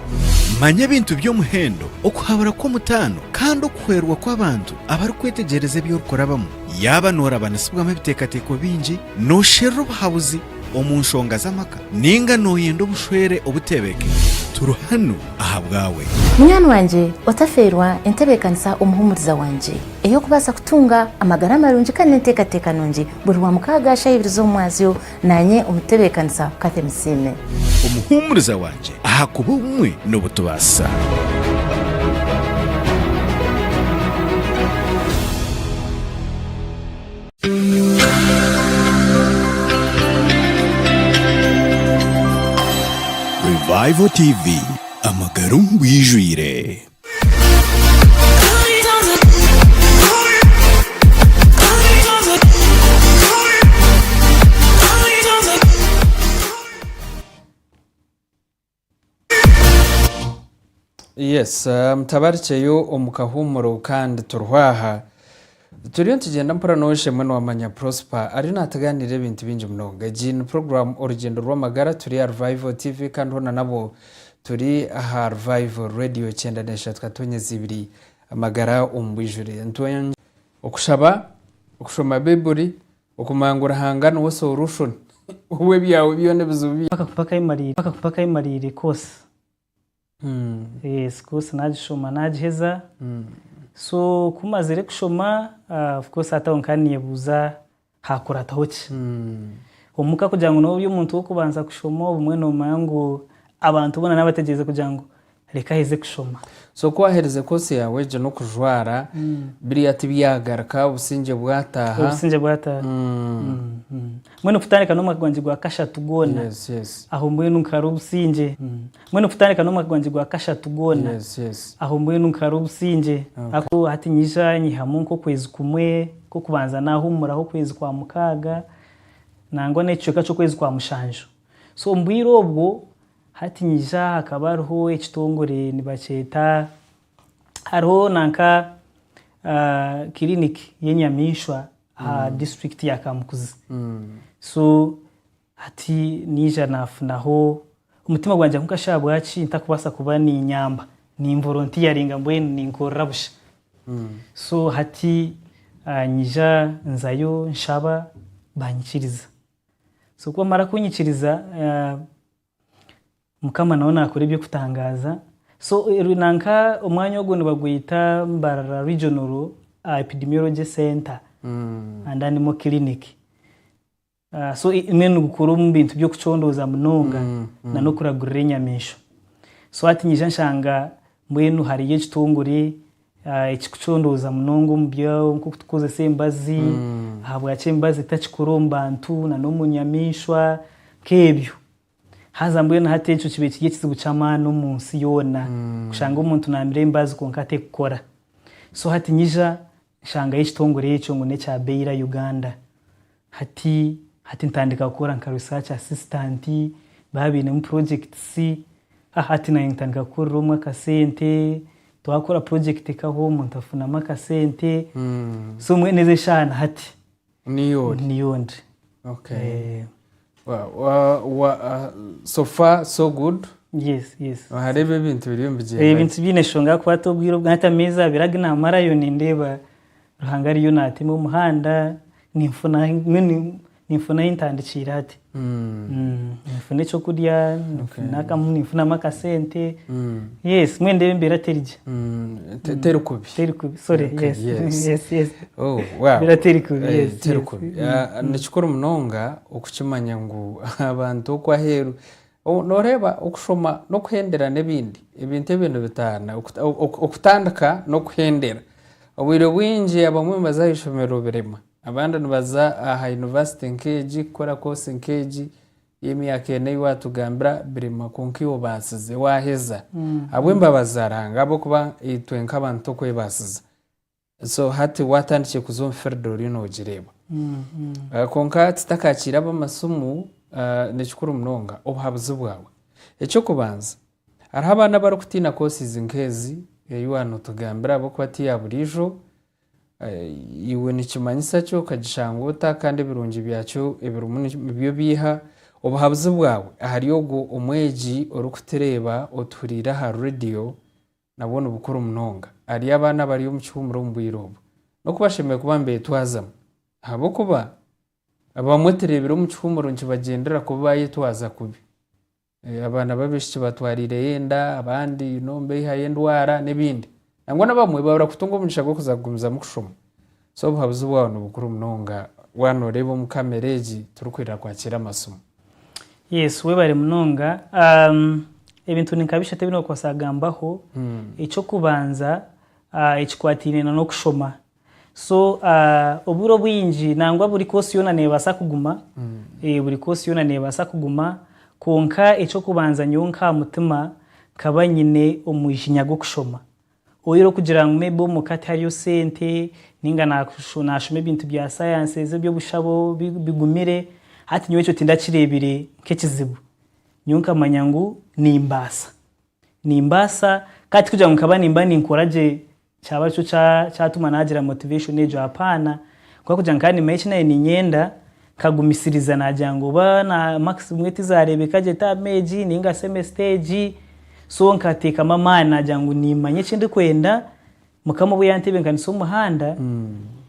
Manya ebintu by'omuhendo, okuhabura kw'omutaano, kandi okuhwerwa kw'abantu abarikwetegyereza ebi orikurabamu. Yaaba noorabanisibwamu ebiteekateeko bingi, noosherura obuhabuzi omu nshonga z'amaka, nainga nooyenda obushwere obuteebekire, turi hanu ahabwawe. Munywani wangye, otafeerwa entebeekanisa omuhuumuriza wangye ey'okubaasa kutunga amagara marungi kandi n'enteekateeka nungi buri Rwamukaaga shaha ibiri z'omwazyo, Naanye omutebe w'ekanisa Cathy Musiime. Omuhuumuriza wangye, ahakuba obumwe n'obu tubaasa. Revival TV, amagara omu bwijwire. Yes, mutabarikyeyo omu kahuumuro kandi turiho aha. Turiyo nitugyenda mpora n'oshemwa niwamanya Prosper ariyo naatugaanirira ebintu bingi munonga. Egi ni puroguraamu Orugyendo rw'Amagara turi aha Revival TV kandi hoona nabwo turi aha Revival Radio kyenda n'eshatu katonyezi ibiri Amagara omu bwijure. Nitwongye. Okushaba, okushoma Baibuli, okumanya ngu Ruhanga niwe Solution w'ebyaawe byoona ebizibu byawe. Mpaka mpaka ayemarire, mpaka mpaka ayemarire koosi. Sikuusi naagishoma naagiheza. So ku mazire kushoma of course hati aho nkaba ninyebuuza haakurataho ki. Omuka kugira ngu noobe ori omuntu w'okubanza kushoma obumwe noomanya ngu abantu boona naabategyeeze kugira ngu reka aheze kushoma. So ku waaherize koosi yaawe egyo n'okujwara, biriya tibyagaruka, obusingye bwataaha? Obusingye bwataaha. Mbwenu kutandika n'omwaka gwangye gwa kashatu gwona, aho mbwenu nkaara obusingye. Mbwenu kutandika n'omwaka gwangye gwa kashatu gwona, aho mbwenu nkara obusingye. Ahakuba hati nyija nyihamu nk'okwezi kumwe nk'okubanza naahumuraho okwezi kwa mukaaga nangwa n'ekicweka ky'okwezi kwa mushanju. So omu bwire obwo, hati nyija hakaba hariho ekitongore nibakyeta, hariho nanka kiriniki y'enyamaishwa aha disiturikiti ya Kamukuzi. So Hati naija naafunaho omutima gwangye ahu nkashi ahabwaki ntakubaasa kuba niinyamba, nimboro ntiyaringa mbwenu ninkorera busha. So hati nyija nzayo nshaba baanyikiriza. So ku baamara kuunyikiriza, Mukama nawe naakora eby'okutangaaza. So nanka omwanya ogwo nibagweta Mbarara Regional Epidemiology Centre and Animal Clinic. Ah, so i- mbwenu nigukora omu bintu by'okucondooza munonga na n'okuragurira enyamaishwa so hati nyija nshanga mbwenu hariyo ekitongore ah, ekikucondooza munonga omu byo nk'oku tukukozesa embazi ahabwaki embazi etakikora omu bantu na n'omu nyamaishwa nk'ebyo Haza mbwenu hati ekyo kibe kiri ekizibu ky'amaani omu nsi yoona kushanga omuntu naamira embaazi kwonka ateekukora. So hati nyija nshangayo ekitongore ekyo ngu n'ekya Baylor Uganda. Hati hati ntandika kukora nka research assistant, baaba bainemu projects, ha hati naanye ntandika kukorera omwe akasente, twakora project ka hoo omuntu afunamu akasente. So mbwenu ezi eshaaha na hati niyo ori niyo ndi okay Eh, Wa- wa- wa- ah, so far so good yes yes wahareeba ebintu biriyo Eh, nibigyenda ebintu biine enshonga ahakukwata obwire obwo hati ameezi abiri agi namarayo nindeeba ruhanga ariyo natema omuhanda ninfuna ahi- nyowe nin- ninfuna ahi ntandikiire hati ninfuna ekyokurya ninfunamu akasente mbwenu reero embeera teri gye teri kubi teri kubi nikikuru munonga okukimanya ngu abantu oku aheeru noreeba okushoma nokuhendera nebindi ebintu ebyo nibitaana okutandika nokuhendera obwire bwingi abamwe nibaza aha ishomero birema Abandi nibaza aha yunivasite nk'egi, kukora koosi nk'egi y'emyaka ena ei waatugambira, Birima, kwonka iwe obaasize waaheza ahabw'embabazi za Ruhanga ahabw'okuba itwe nk'abantu torikwebaasiza. So hati waatandikire kuza omu field oriyo noogireeba. Kwonka tutakakiire ab'amasimu, ni kikuru munonga obuhabuzi bwawe. Eky'okubanza, hariho abaana abarikutiina courses nk'ezi ei waaba nootugambira ahabw'okuba ti ya buriijo, Iwe nikimanyisa ki okagishanga ota kandi ebirungi byakyo ebirimu nibyo biiha? Obuhabuzi bwawe ahari ogwo omwegi orikutureeba otuhuriire aha rediyo nabwo ni bukuru munonga ahari abaana abari omu kihuumuro omu bwire obu. N'oku bashemereire kuba nibetwazamu. Ahabw'okuba abamwe tureebire omu kihuumuro nikibagyendera kubi baayetwaza kubi. Abaana b'abaishiki batwariireyo enda, abandi you know nibaihayo endwara n'ebindi. Nangwa n'abamwe babura kutunga omugisha gw'okuza kugumizamu kushoma. So obuhabuzi bwawe ni bukuru munonga waaba nooreeba omu kamera egi turikwirira kwakiira amasimu. Yes, webare munonga. Ebintu ni nka bishatu ebi nookubaasa kugambaho. Eky'okubanza ekikwataine n'okushoma. So obwire obwingi nangwa buri course yoona nebaasa kuguma, buri course yoona nebaasa kuguma kwonka eky'okubanza nyowe nk'aha mutima nkaba nyine omwiginya gw'okushoma. Oyire okugira ngu may be omuka tihariyo sente ninga nashoma ebintu bya sciences eby'obushabo bigumire hati nyowe ekyo tindakireebire nk'ekizibu. Nyowe nkamanya ngu nimbaasa, nimbaasa kandi tikugira ngu nkaba nimba ninkora gye Kyaba nikyo kyatuma naagira motivation egyo apaana ahabw'okuba kugira ngu kandi Mike naanye niinyenda, nkagumisiriza naagira ngu oba na marks zimwe tizaareebeka gye term egi nainga semester egi so nkateekamu amaani naagira ngu niimanya eki ndikwenda, Mukama obu yantebeekanisa omuhanda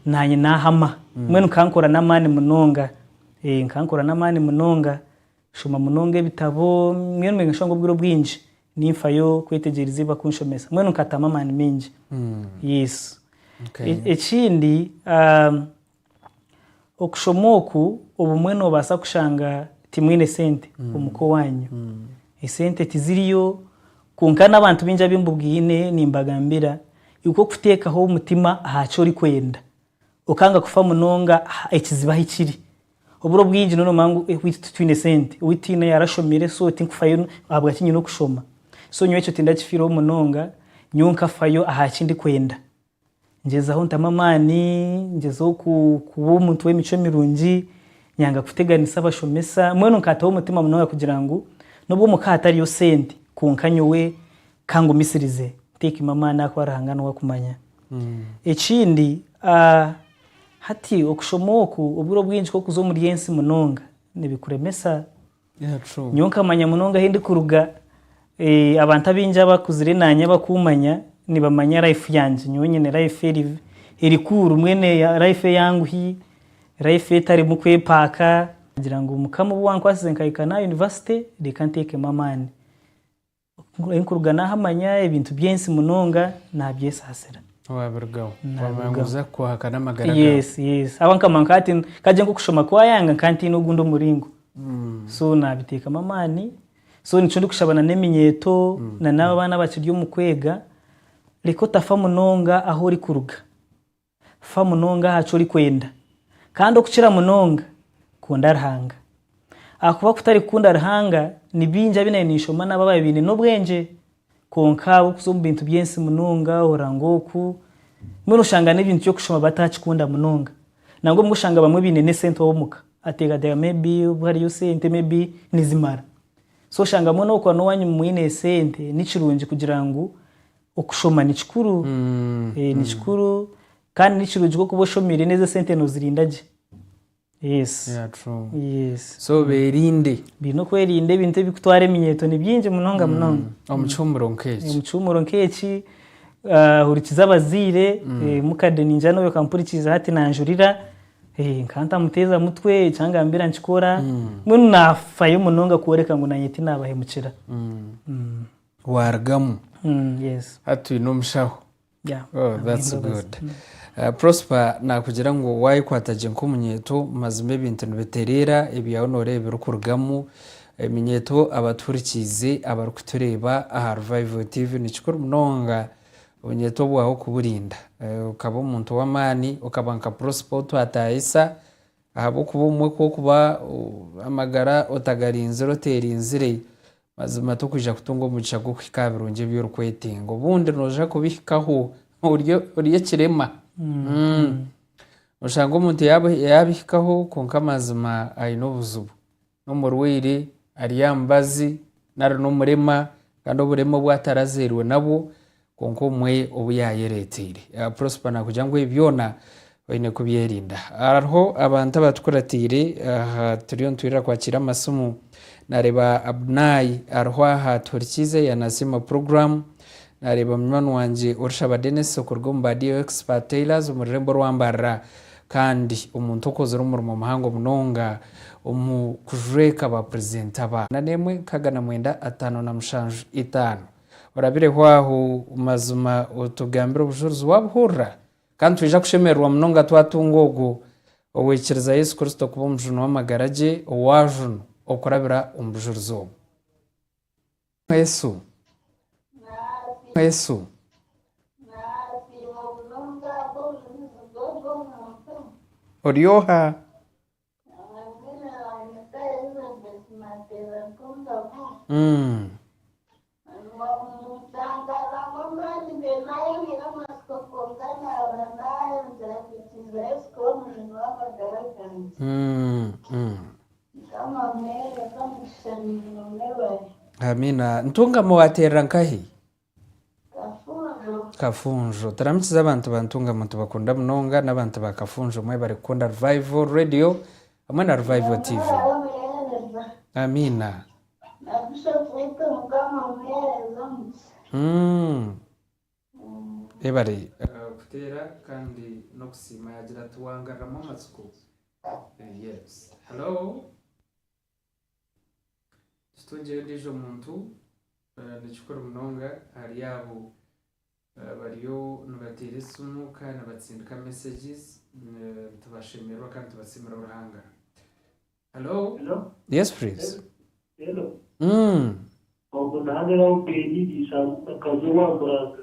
naanye naahama. Mbwenu nkankora n'amaani munonga, ee nkankora n'amaani munonga. Nshoma munonga ebitabo, mbwenu mbwenu nshanga obwire obwingi ninfayo kwetegyereza ebi bakunshomesa. Mbwenu nkatamu amaani maingi. Yes. Okay. E- Ekindi, um, okushoma oku obumwe noobaasa kushanga timwine sente omu ka owanyu. Esente tiziriyo, kwonka n'abantu baingi abu mbubwine nimbagambira ikwo okuteekaho omutima aha ki orikwenda, okanga kufa munonga aha ekizibu ahu kiri, Oburo bwingi nonoba ngu owaitu titwine sente, owaitu tihaine ayarashomire so tinkufayo ahabwaki nyine okushoma. So nyowe ekyo tindakifiiraho munonga, nyowe nkafayo ahaki ndikwenda. Ngyezaho ntamu amaani, ngyezaho kuba omuntu w'emicwe mirungi, nyanga kuteganisa abashomesa, mbwenu nkataho omutima munonga kugira ngu n'obu omuka hatariyo sente kwonka nyowe kangumisirize ntekemu amaani ahakuba Ruhanga niwe akumanya. Ekindi, a Hati okushoma oku obwire obwingi k'okuza omuri ensi munonga nibikuremesa. Nyowe nkamanya munonga ahi ndikuruga, abantu abaingi abakuzire naanye abakummanya nibamanya life yangye. Nyowe nyine life eri eri cool, mbwenu life eyanguhi, life etarimu kwepaaka. Ngira ngu Mukama obu wankwatsize nkahika n'aha yunivasite, reka nteekemu amaani. Orikuruga n'aha manya ebintu by'ensi munonga naabyesaasira. Waabirugaho. Waamanya oza kuhakana amagara gaawe. Yes, yes. Ahabw'okuba nkamanya nka hati nkagye nk'okushoma kwayanga nkaba ntaine ogundi omuringo. So naabiteekamu amaani. So nikyo ndikushaba na n'eminyeeto na n'abo abaana abakiri omu kwega, reka otafa munonga ahu orikuruga. Fa munonga aha ki orikwenda, kandi okukira munonga, kunda Ruhanga. Ahakuba kutari kukunda Ruhanga, ni baingi abu nayo ninshoma nabo abaabaire baine n'obwengye, kwonka ahabw'okuza omu bintu by'ensi munonga, ohurira ngu oku, mbwenu oshanga n'ebintu by'okushoma bataakikunda munonga. Nangwa obumwe oshanga abamwe baine n'esente ow'omuka ateekateeka may be obu hariyo sente may be nizimara. So oshanga mbwenu oku waaba n'owaanyu mwine sente, ni kirungi kugira ngu Okushoma ni kikuru, ni kikuru kandi ni kirungi ku oba oshomeire neza esente nozirinda gye. So berinde. Baine okwerinda ebintu ebikutwara eminyeeto ni byingi munonga munonga. Omu kihumuro nk'eki. Omu kihumuro nk'eki, hurikiza abazaire, mukade ningira nobi okampurikiize hati nanjurira, nkaba ntamuteeza mutwe, eki angambira nkikora, mbwenu nafayo munonga kworeka ngu nanye tinabahemukira. waarugamu hati twine omushaho. Prosper naakugira ngu waayekwata gye nk'omunyeeto mazima ebintu nibitereera, ebyawe nooreeba ebirikurugamu. Eminyeeto abatuhurikiize abarikutureeba aha Revival TV ni kikuru munonga obunyeeto bwawe kuburinda okaba omuntu w'amaani okaba nka Prosper ou twataayisa ahabw'okuba obumwe ku orikuba amagara otagarinzire oteerinzire Mazima t'okwija kutunga omugisha gw'okuhika aha birungi ebi orikwetenga. Obundi nooja kubihikaho ori ekirema. Nooshanga omuntu yaabihikaho kwonka mazima aine obuzibu. N'omurwaire, ari aha mubazi nari n'omurema kandi oburema obu atarazairwe nabwo. Kwonka omwe obu yaayereeteire. Prosper naakugira ngu ebi byona oine kubyerinda. Hariho abantu abatukuratiire aha turiyo nitwirira kwakiira amasimu. Naareeba Abnai ariho aha Tuhurikiize yaanasiima puroguraamu. Naareeba munywani wangye Orishaba Denis okuruga omu ba DO Expert Tailors omu rurembo rwa Mbarara kandi omuntu okozire omurimo muhango munonga omu kujweka baapurizenta ba. Nana emwe, nkaaga na mwenda, ataano na mushanju, itaano. Orabireho aho mazima otugambire obujurizi waabuhurira. Kandi nitwija kushemererwa munonga twatunga ogwo owaikiriza Yesu Kristo kuba Omujuni w'amagara gye owaajunu okurabira omu bujurizi obwo. Yesu, Yesu. Ori oha? Ntungamo wateerera nkahi? Kafunjo. Turamikize abantu ba Ntungamu tubakunda munonga n'abantu ba Kafunjo mwebare kukunda Revival Radio hamwe na Revival TV. Amiina. Mm. Ebare kuteera kandi n'okusiima yagira ati wangarramu amatsiko. Yes. Hello. Kitungire ondiijo muntu ni kikuru munonga ahari abo abariyo nibateera esimu kandi nibatsindika meseegi. Nitubashemererwa kandi nitubatsiimira Ruhanga. Halo. Halo. Yes please. Halo. Ogu ni Hano Lauben, eishe amuka akazi ow'aha Muranga.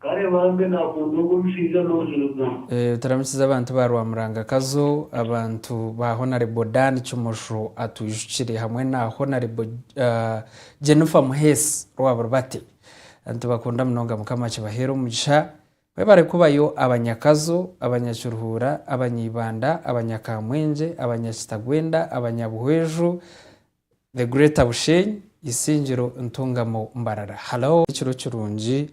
Kare bambi nakunda ogu omushaija nohirwa. Turamukize abantu ba Rwamuranga Kazo, abantu ba Honarebo Dan Kimosho atwijukire hamwe na Honarebo Jennifer Muheesi Rwabulibate nitubakunda munonga mukama akibaheere omugisha mwebare kubayo abanyakazo, abanyakiruhuura, abanyaibanda, abanyakamwengye, abanyakitagwenda, abanyabuhweju, The Greater Bushenyi, Isingiro Ntungamo Mbarara. Hello. Ekiro kirungi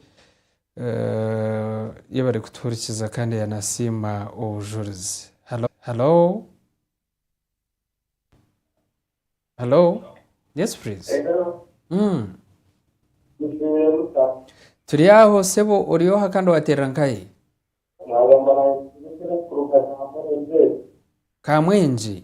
Y'ahu bari kutuhurikiza kandi yanasiima obujurizi. Hello. Hello. Hello. Yes please. Turi aho sebo ori oha kandi waterera nkahe? Kamwenje.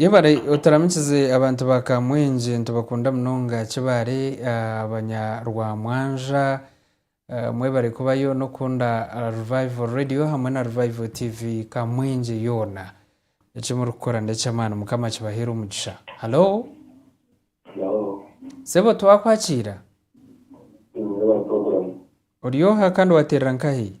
Yebare oturamikize abantu ba kamwenje nitubakunda munonga kibare abanya rwamwanja mwebare kubayo nokukunda revival radio hamwe na revival TV kamwenje yoona ekimurikukora nekyamaani mukama akibahere omugisha halo sebo twakwakiira oryoha kandi wateerera nkahi.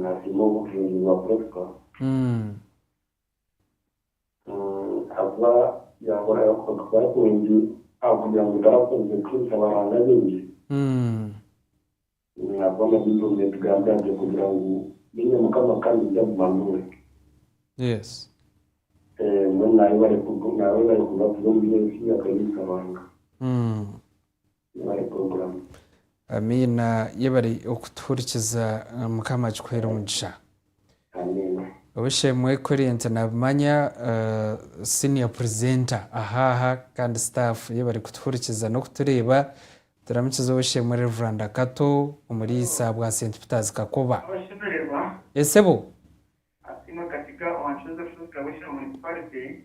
Nasiima obujuungi bwa Prisca ahakuba yakora okukora kurungi ahakugira ngu tarakozire kuhiisa abaranga baingi ahakuba na Baibuli netugambira nti okugira ngu menya Mukama kandi oija kuguma nduure. Mbwenu nayebare kubaguza omu by'ensi akahiisa Ruhanga. Yebare program. Amiina yebare okutuhurikiza mukama akikuhere omugisha. Amiina. Ow'eishe-emwe Current nabimanya senior presenter aha aha kandi staff yebare kutuhurikiza n'okutureeba. Turamukize Ow'eishe-emwe Rev. Kato omuriisa bwa St Peter's Kakoba. Abashemererwa. Ee sebo. Asiimwe Katiga owa Chosen Fruit Salvation Municipality.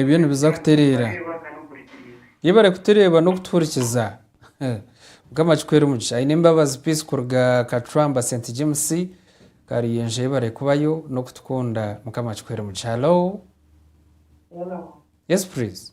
Ebyo nibiza kutereera. Yebare kutureeba n'okutuhurikiza. Mukama akikuheere omugisha. Ainembabazi Peace kuruga Kacwamba St James Karuyenje yebare kubayo n'okutukunda. Mukama akikuheere omugisha. Hello. Yes please.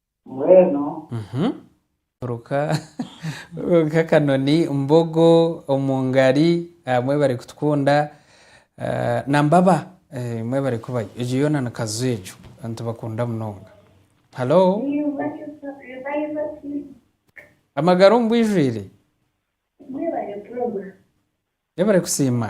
Mbwenu ruka ruka akanoni mbogo omu ngari abamwe bari kutukunda na mbaba imwe bari kubayo egyo yoona ni kazo egyo nitubakunda munonga Hallo Amagara omu bwijwire Mwebare kusiima.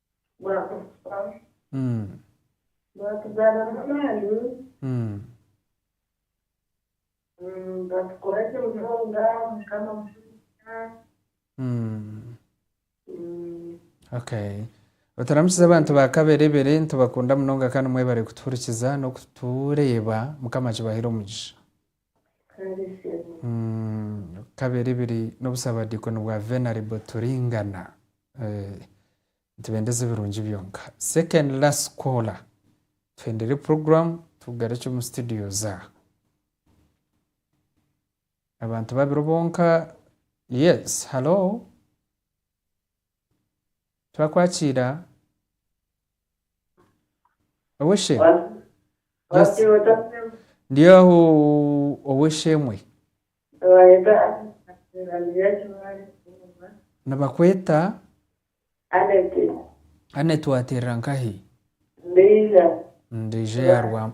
Bwakufa, bwatugaanamu amaani, bwatukoragye munonga, Mukama mutugumiise. Oturamukize abantu ba Kaberebere. Nitubakunda munonga kandi mwebare kutuhurikiza n'okutureeba. Mukama akibaheere omugisha. Kaberibiri n'obusabadiikoni bwa Venerable Turingana. Nitubendeza ebirungi byonka. Second last caller. Tuhendere program tugarukye omu studios aha. Abantu babiri bonka. Yes, halo. Twakwakiira. Owe she. Ndi aho ow'esheemwe. Nibakweta Annet wateerera nkahi? Ndiija eya Rwama.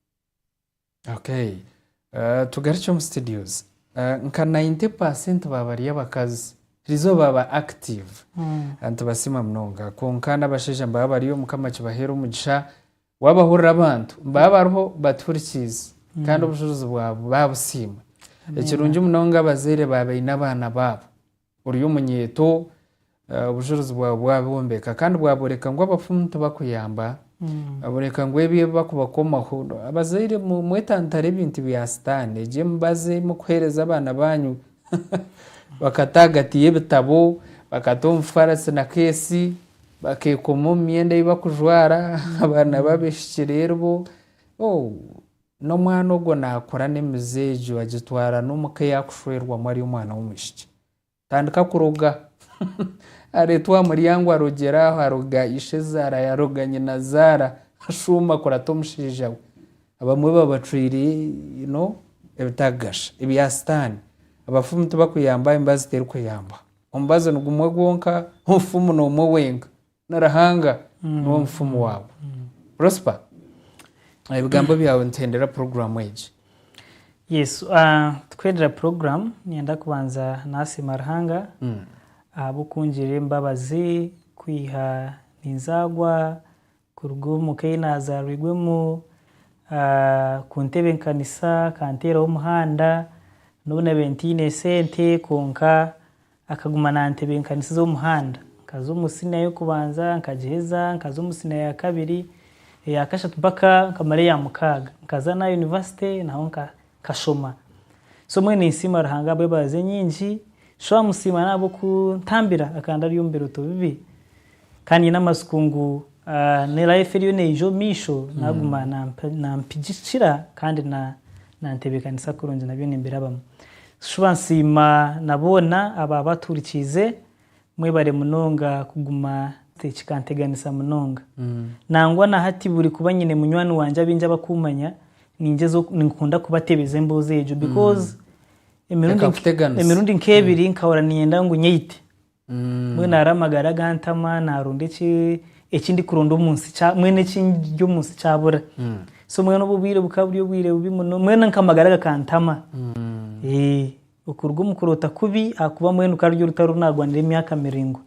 Okay tugarukye omu studios nka 90 percent ba bari abakazi erizooba baba active nitubasiima munonga kwonka n'abashaija nibaba bariyo mukama akibaheere omugisha wabahurira abantu nibaba bariho batuhurikiize kandi obushubuzi bwabo babusiima ekirungi munonga abazaire baba baine abaana baabo. Ori omunyeeto, obujurizi bwaawe bwabwombeka kandi bwabooreka ngu abafumu tibakuyamba, bwabooreka ngu ebyo ebi bakubakomaho, abazaire mwetantare ebintu bya sitaane, egyo emibazi ei murikuheereza abaana baanyu, bakata ahagati y'ebitabo, bakata omu faarasi na keesi, bakeekoma omu myenda ei barikujwara, abaana b'abaishiki reero bo, oh! N'omwana ogwo naakura n'emize egyo agitwara n'omuka ei arikushwerwamu ari omwana w'omwishiki. Tandika kuroga. Areetwa aha muryango arogyera aho, aroga ishezaara yaaroga nyinazaara, ashuuma kurata omushaija we. Abamwe baba bacwire you know ebitakagasha, ebya sitaani. Abafumu tibakuyambaho, emibazi terikuyambaho. Omubazi ni gumwe gwonka, omufumu n'omwe wenka. Na Ruhanga niwe mufumu waabo. Prosper ebigambo byawe nituhendera puroguramu egi. Yes tukwendera puroguramu niyenda kubanza nasiima Ruhanga ahabwokungirira embabazi kwiha ninzagwa kuruga omuka eyinazarwirwemu kuntebekanisa akanteeraho omuhanda nobu nabaire ntaine sente kwonka Akaguma naantebenkanisiza omuhanda. Nkaza omu siniya y'okubanza, nkagiheza, nkaza omu siniya ya kabiri, eya kashatu mpaka nkamara eya mukaaga. Nkaza n'aha yunivasite naho nkashoma. So mbwenu ninsiima Ruhanga ahabw'embabazi enyingi. Shuwa amusiima n'ahabw'okuntambira akanda ari omu birooto bibi. Ka nyine amatsiko ngu ne life eriyo neija omu maisho naguma nampigikira kandi nantebekanisa kurungi nabyo nimbirabamu. Shuba nsiima na boona aba baturikiize, mwebare munonga kuguma kikanteganisa munonga. Nangwa na hati buri kuba nyine munywani wangye abaingi abakumanya ninkunda kubatebeza emboozi egyo because emirundi nk'ebiri nkahurira niinyenda ngu nyeite. Mbwenu hariho amagara agantama, naaronda eki eki ndikuronda omu nsi kya- mbwenu eki ndya omu nsi kyabura. So mbwenu obwo obwire bukaba buri obwire bubi muno, mbwenu nka amagara gakantama. Eh, okuruga omu kuroota kubi ahakuba mbwenu ka ruri orutaro oru naagwanire emyaka miraingwa.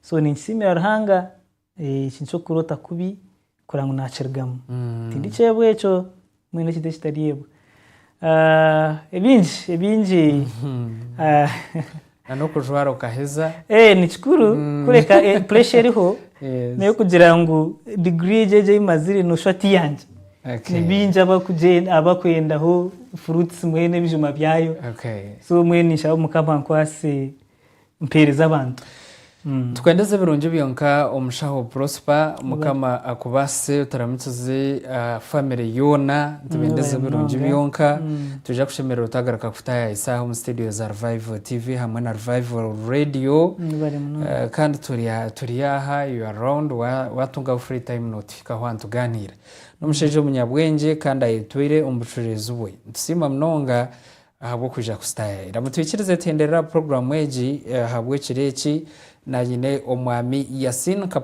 So ninkisiimira Ruhanga. Eki niky'okuroota kubi kurora ngu naakirigamu. Tindi kyeebwa ekyo, mbwenu ekintu ekitareebwa. Ebingi, ebingi. Na n'okujwara okaheza. Ni kikuru kureka pressure eriho n'ey'okugira ngu degree egi egi ei mazire nooshusha ti yangye. Ni baingi abakwendaho fruits mbwenu ebijuma byayo. So mbwenu ninshaba Mukama ankwaase. mpeereza abantu. Tukwendeze ebirungi byonka omushaho Prosper mukama akubaasise oturamukize family yoona nitubendeza ebirungi byonka noija kushemererwa twagaruka kukutaayaho esaaha omu studio za Revival TV hamwe na Revival Radio kandi turi aha you are round watungaho free time notuhikaho aha nitugaaniira n'omushaija omunyabwengye kandi ayetwire omu bucureezi bwe nitusiima munonga Ahabw'okwija kusitaya ira mutwikirize tuhenderere aha puroguramu egi ahabw'ekiro eki. Nanyine Omwami Yasin Kapumbu.